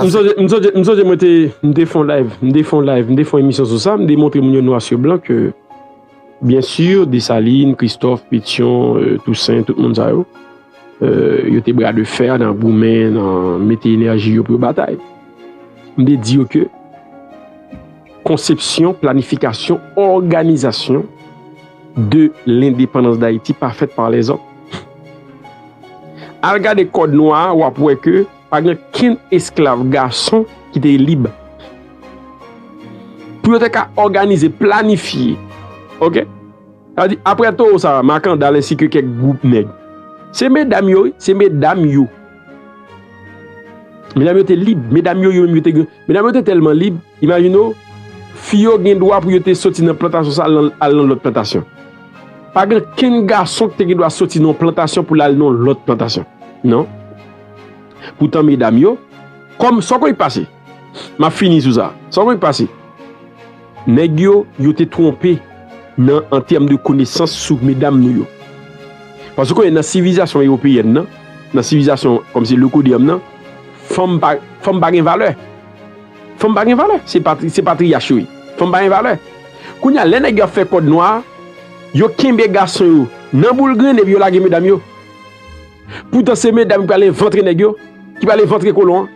Msonje mwen te fon live, mwen te fon live, mwen te fon emisyon sou sa, mwen te montre moun yo nwa su blan ke byen su Desalin, Kristof, Petyon, Tousen, tout moun sa yo, yo te bra de fè nan goumen, nan mete enèji yo pou yo batay. Mwen te di yo ke konsepsyon, planifikasyon, òganizasyon de lendepandans Dayiti pa fèt pa lèzòm. Al gade kòd nwa a, wap wè ke. Pa gen kenn esklav gason ki te lib. Pou yo te ka òganize, planifye. Ok? Sa di, apre towo sa, Makandal ensi ke kèk gwoup nèg. Se medam yo wi, se medam yo. Medam yo te lib, medam yo yo menm yo te gen. Medam yo te tèlman lib, imajine w, fi yo gen dwa pou yo te soti nan plantasyon sa al nan lòt plantasyon. Pa gen kenn gason ki te gen dwa soti nan yon plantasyon pou l al nan yon lòt plantasyon. Non. Poutan medam yo, kòm, sa w konnen k pase? M ap fini sou sa. Sa w konnen k pase? Nèg yo, yo te twonpe nan an tèm de konesans sou medam nou yo. Paske w konnen nan sivilizasyon ewopeyèn nan, nan sivilizasyon kòm se le Kodeèm nan, fanm pa, fanm pa gen valè. Fanm pa gen valè. Se patri, se patriyach yo ye. Fanm pa gen valè. Kounye a, lè nèg yo ap fè kòd nwa a, yo kenbe gason yo nan boul grenn epi yo lage medam yo. Poutan se medam ki pral evantre nèg yo, ki pral evantre kolon an.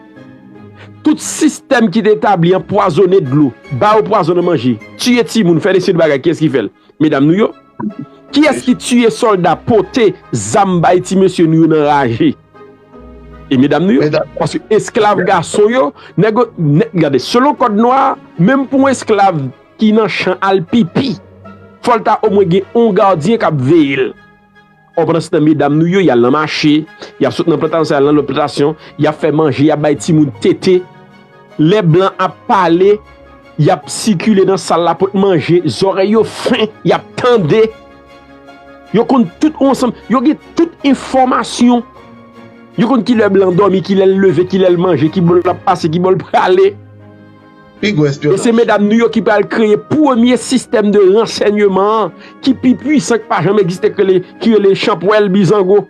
Tout sistèm ki te etabli an pwazone dlo, ba yo pwazon nan manje, tiye timoun, fè deside bagay, kiyès ki fè l? Medam nou yo. Kiyès ki tiye sòlda, pote zam bay ti mesye nou yo nan raje? E medam nou yo. Paske esklav gason yo, nèg yo, gade, selon kòd nwa, menm pou yon esklav ki nan chan al pipi, fò l ta omwen gen yon gadyen k ap veye l. Or pandan se tan medam nou yo yal nan mache, yap sot nan plantasyon sa yal nan lòt plantasyon, yap fè manje, yap bay timoun tete. Lè blan ap pale, yap sikile nan sal la pot manje, zòrèy yo fen, yap tande. Yo konn tout yon ansanm, yo gen tout enfòmasyon. Yo konn kilè blan dòmi, kilè l leve, kilè l manje, ki bò lap pase, ki bò l prale. Pi gwo espyonaj. E se medam nou yo ki pral kreye premye sistèm de ransènyeman an ki pi pwisan ki pa janm egziste ki rele chanpwèl bizango.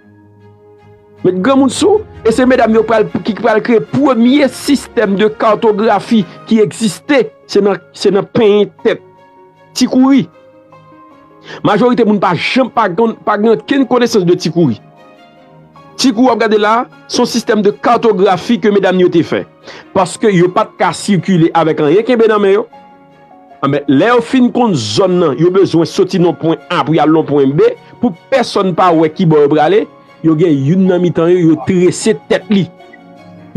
Met granmoun sou ou. E se medam yo ki pral kreye premye sistèm de kartografi ki egziste se nan penyen tèt ti kouri. Majorite moun pa janm pa gen okenn konesans de ti kouri. Ti kou w ap gade la a, se yon sistèm de kartografi ke medam yo te fè. Paske yo pa t ka sikile avèk anyen kenbe nan men yo, anben, lè yo fin konn zòn nan, yo bezwen soti nan yon pwen A pou y al nan yon pwen B, pou pèsòn pa wè ki bò yo prale, yo gen youn nan mitan yo, yo trese tèt li.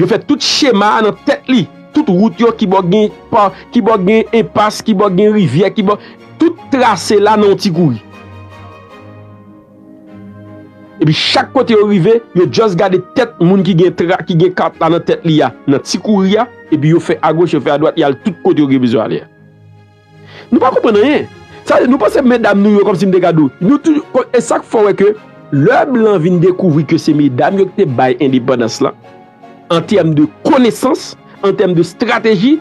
Yo fè tout chema a nan tèt li. Tout wout yo, ki bò gen pa, ki bò gen enpas, ki bò gen rivyè, ki bò, tout trase la nan yon ti kouri. Epi chak kote yo rive, yo just gade tèt moun ki gen tra ki gen kat la nan tèt li a nan ti kouri a, epi yo fè agoch yo fè adwat y al tout kote yo gen bezwen ale a. Nou pa konprann anyen. Sa vle di nou panse medam nou yo kòmsi m te gade w, nou toujou e sa k fè w wè ke lè blan vin dekouvri ke se medam yo ki te bay endepandans lan, An tèm de konesans, an tèm de strateji,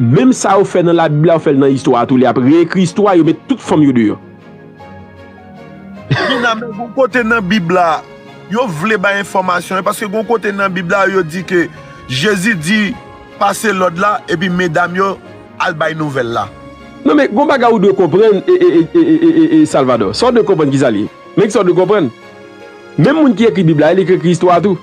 menm sa yo fè nan labib la yo fèl nan istwa a tou, lè ap reekri istwa yo met tout fanm yo deyò. Gina, men gon kote nan bib la yo vle bay enfòmasyon, paske gon kote nan bib la yo di ke Jezi di pase lòd la epi medam yo al bay nouvèl la. Non men gon bagay ou dwe konprann ee Salvador, sa w dwe konprann kisa li ye? Men kisa w dwe konprann, menm moun ki ekri bib la e li k ekri istwa a tou.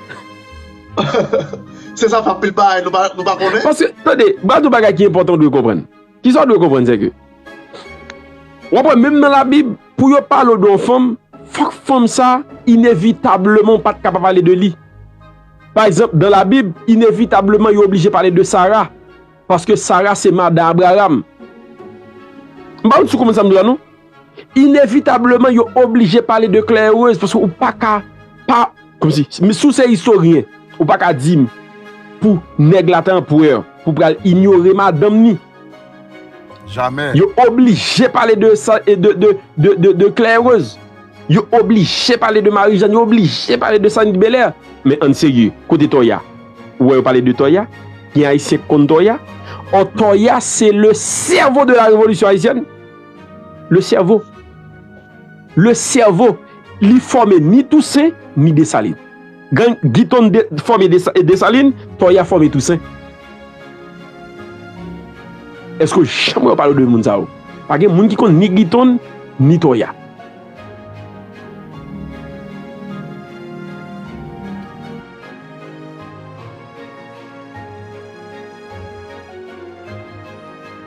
Se sa pa pil bagay nou pa konnen. Paske, tande, ba nou bagay ki enpòtan ou dwe konprann. Ki sa ou dwe konprann se ke, w ap wè menm nan labib, pou yo pale ou de yon fanm, fòk fanm sa a, inevitableman ou pa t ka pa pale de li. Pa egzanp, dan labib, inevitableman yo oblije pale de Sara. Paske Sara se madan Abraram. M pa wè si ou konprann sa m di la non. Inevitableman yo oblije pale de Claire-Rose paske ou pa ka pa Kòm si, si w se istoryen, ou pa ka di m pou nèg la te anperè pou w pral inyore madanm ni. Jamè! Yo oblije pale de sa, de Claire-Rose. Yo oblije pale de Marie-Jeanne, yo oblije pale de Saint Belair. Men ann serye, kote Toya? Ou wè yo pale de Toya? Gen Ayisyen ki konn Toya? Ò Toya se le sèvo de la revolisyon ayisyèn? Le cerveau Le cerveau Li fòme ni Toussaint ni Dessalines Gang Guiton fòme Dessalines Toya fòme Toussaint Èske w janm wè yo pale w de moun sa yo Pa gen moun ki konn ni Guiton ni Toya